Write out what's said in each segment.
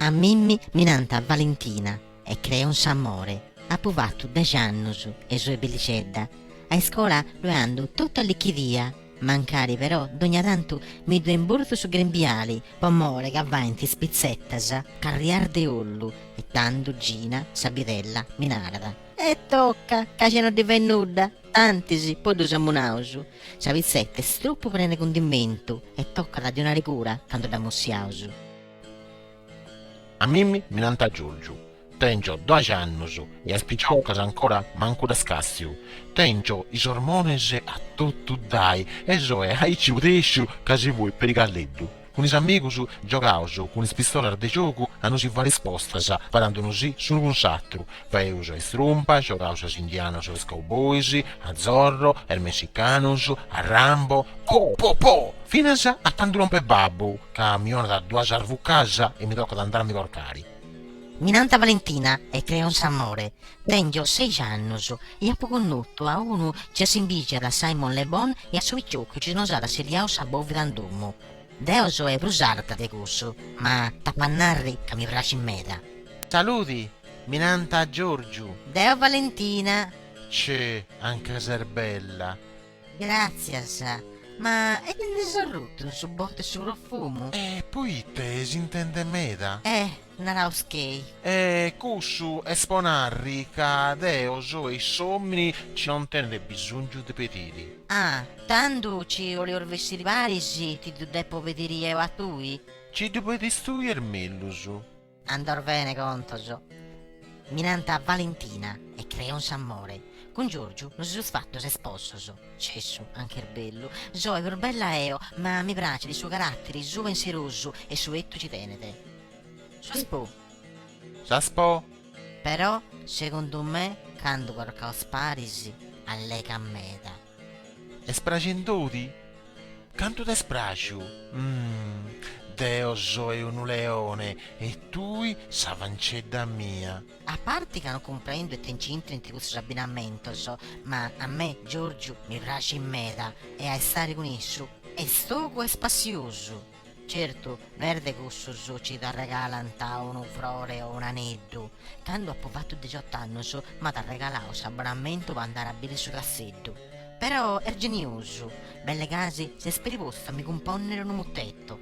A mimmi mi nant Valentina e creo in s'amore, apo fatu dex'annus e soe bellixedda, a iscola ddoe ando totu allichidia, Mancari però dogna tantu mi ddu imburtu su grembiali po more ca faint is pitzetas carrias de ollu e tando Gina sa bidella mi narat. E toca, ca ge no ddi fait nudda, tantis poi ddu samunaus. Sa pitzeta est tropu prena de cundimentu e tocat a ddi 'onare cura candu dd'amussiaus. A mimmi mi nant Giorgiu. Tèngio doaxi annus e as piciocas ancora mancu ddas càssiu. Tèngio is ormones a totu ddai e soe aici pudèsciu ca si fuit peri calleddu. Cun is amigus giogaus cun is pistolas de giogu a nosi fàiri is postas sparandu-nosi s'unu cun s'atru Faeus a is trumpas, giogaus a is indianos e a is cowboys, a Zorro, a is messicanos, a Rambo, po po po! Finas a candu lompet babbu ca mi 'onat duas arvucas e mi tocat a andai a mi corcai. Mi nant Valentina e creo in s'amore. Tèngio seixi annus e apo connotu a unu ci assimbìgiat a Simon Le Bon e a su picioccu ci nos at assetiau sa bòvida in domu. Deo soe prus arta de cussu, ma t'apu a narri ca mi praxit meda. Saludi! Mi nant Giorgiu. Deo Valentina. Ce, anca ses bella. Gràtzias. Ma e ti ndi ses orrutu in su botu 'e su profumu? E poite s'intende meda? E, naraus ca ei. E cussu est po narri ca deo soe s'òmini ci non tenet bisòngiu de pediri. Ah, tando ci 'olios bessiri paris ti ddu depo pediri eo a tui? Ci ddu pedis tui est mellus. Andaos bene contos. Mi nant Valentina e creo in s'amore. Cun Giorgiu nos seus fatos esposos. Cessu, anch'est bellu. Soe prus bella eo, ma mi pracit su carattere suu penserosu e su 'ettu ci tenet. Sas po. Sas po. Però, segundu me, candu corcaos paris, allegat meda. Est praxendo-ti? Cantu t'est praxiu? Deo soe unu leone e tui sa fancedda mia. A parti ca no cumprendo ite nci intrint cussos abbinamentos, ma a me Giorgiu mi praxit meda e a istare cun issu est togu e spassiosu. Certu, no est de cussus ci t'arregalant unu frore o un'aneddu, cando apo fatu deciott'annus m'at arregalau s'abonamentu po andare a biri su Casseddu. Però est geniosu, belle gasi s'est peri postu a mi cumponnere unu mutetto.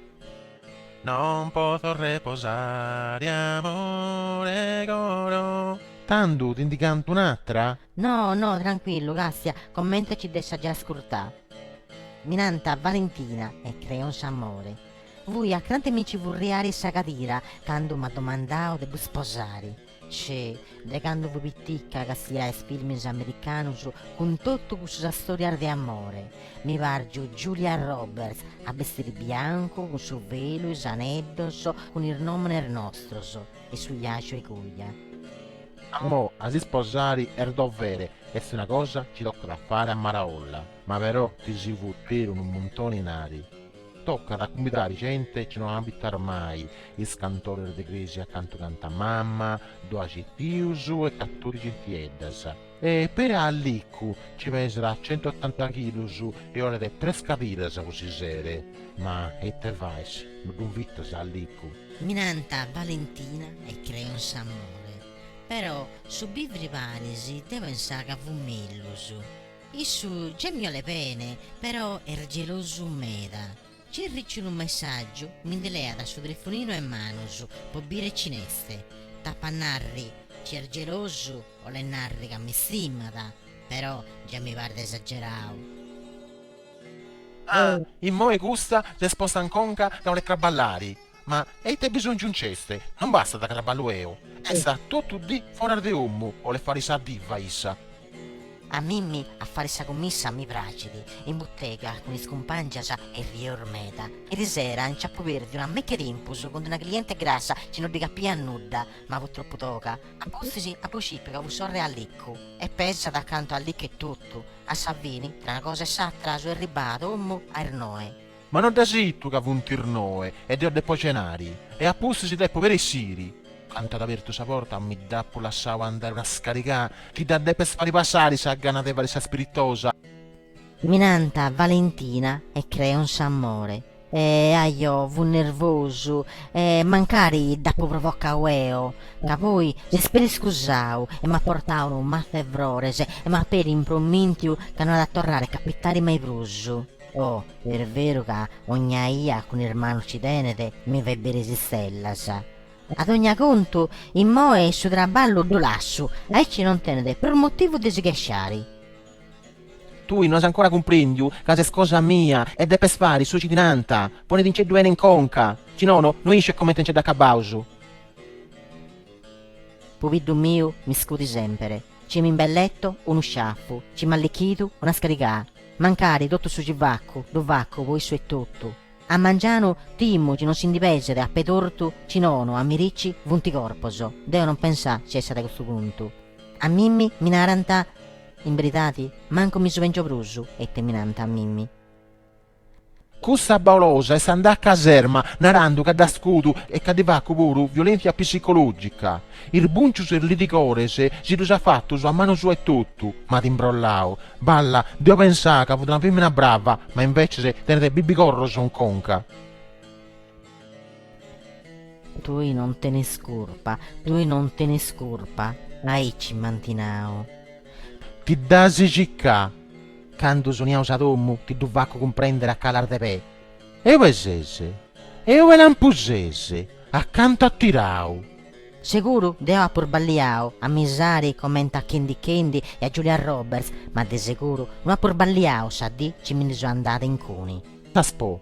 Non potho reposare amore coro. Tando ti ndi canto un'atra? No, no, tranquillu, lassia, comente ci dd'essa giai ascurtà. Mi nant Valentina e creo in s'amore. Fui a crante mi nci furriare sa cadira candu m'at domandau de ddu sposare. Cioè, de candu fui piticca castià is filmis americanus cun totu cussas istorias de amore. Mi pargiu Julia Roberts a bestiri biancu cun su velu, is aneddos, cun is nomenes nostros e su biàgiu 'e coja. Pro a s'isposare est dovere, est una cosa chi tocat a fare a maraolla, ma però chi si futet unu muntone 'e inari, tocat a cumbidare gente chi non abitas mai, is cantores de cresia cantu cantat mama, doaxi tius e catordixi tieddas, e peri a Liccu chi pesat centuotanta chilus e olet tres cadiras po si sere, ma ite fais, no ddu invitas a Liccu? Mi nant Valentina e creo in s'amore, però su bivri paris deo pensà ca fut mellus. Issu gei mi 'olet bene, però est gelosu meda. Ci ricio unu messaggiu, mi ndi leat su telefoninu 'e manus po biri cin'est. T'apo a narri chi est gelosu, 'olet narri ca mi stimat, però gei mi paret esagerau. Ah, immoe custa s'est posta in conca ca 'olet traballare. Ma e ite bisòngiu nc'est? Non bastat ca traballu eo. Est totu dì foras de omu, 'olet fare sa diva issa. A mimmi a fare sa cummissa mi pracit, in butega cun is cumpangias errieus meda. Erisera nch'apu pèrdiu una meche tempus cun una cliente grassa chi no ddi capiat nudda, ma fut tropu toga. A pustis apu scipiu ca fut sorre 'e Liccu. E pesat cantu a Liccu etotu A sa fini, tra una cosa e s'atra, so erribada a omu a is noe. Ma no dd'as itu ca funt is noe e deu depu cenari, e a pustis depu peri essiri. Candu at abertu sa porta mi dd'apu lassau andai una scarigà, ti dda depo fari passari sa gana de fari sa spiritosa. Mi nant Valentina e creu in s'amore. E ajo fut nervosu, e mancari dd'apo provocadu eo, ca poi s'est peri scusadu e m'at portadu unu matzu 'e frores e m'at peri impromìntiu ca no at a torrare a capitare mai prus. Oh, est beru ca ogna ia cun is manus ci tenet, mi fait biri is istellas. A dogna contu, immoe su traballu ddu lassu, aici non tenet prus motivu de si chesciare. Tui no as ancora cumprèndiu ca ses cosa mia e depes fari su chi ti nant. Ponedinceddu 'ene in conca, chi nono no isciu comente nce dd'acabaus. Pubiddu miu mi scudi semper, ci mi imbelleto unu sciafu, ci m'allichidu una scarigaa, mancari totu su chi facu ddu facu po issu etotu. A mangianu timu chi non si ndi peset a pè tortu chi nono a merici funt corpos. Deo non pensà ci essat custu puntu. A mimmi mi narant, In beridadi, mancu mi su pengio prus, ite mi nant a mimmi? Cussa baulosa est andada a caserma narando ca dd'at scudu e ca ddi facu puru violentzia psicològica. Is bùncius e is lidigores si ddus at fatus a manu sua etotu, m'at imbrollau. Balla, deo pensà ca fut una fèmina brava, ma invèces tenet bibigorros in conca. Tui non tenes curpa, tui non tenes curpa, aici m'ant nau. Ti dd'as cicaa. Candu furriaus a domu ti ddu facu cumprendere a calas de pè. E ube ses? E ube lampu ses? A cantu at tirau? Seguru, deu apu sballiau, a bisari comente a Candy Candy e a Julia Roberts, ma de seguru no apu sballiau sa dì ci mi ndi so andada 'e incuni. S'as po.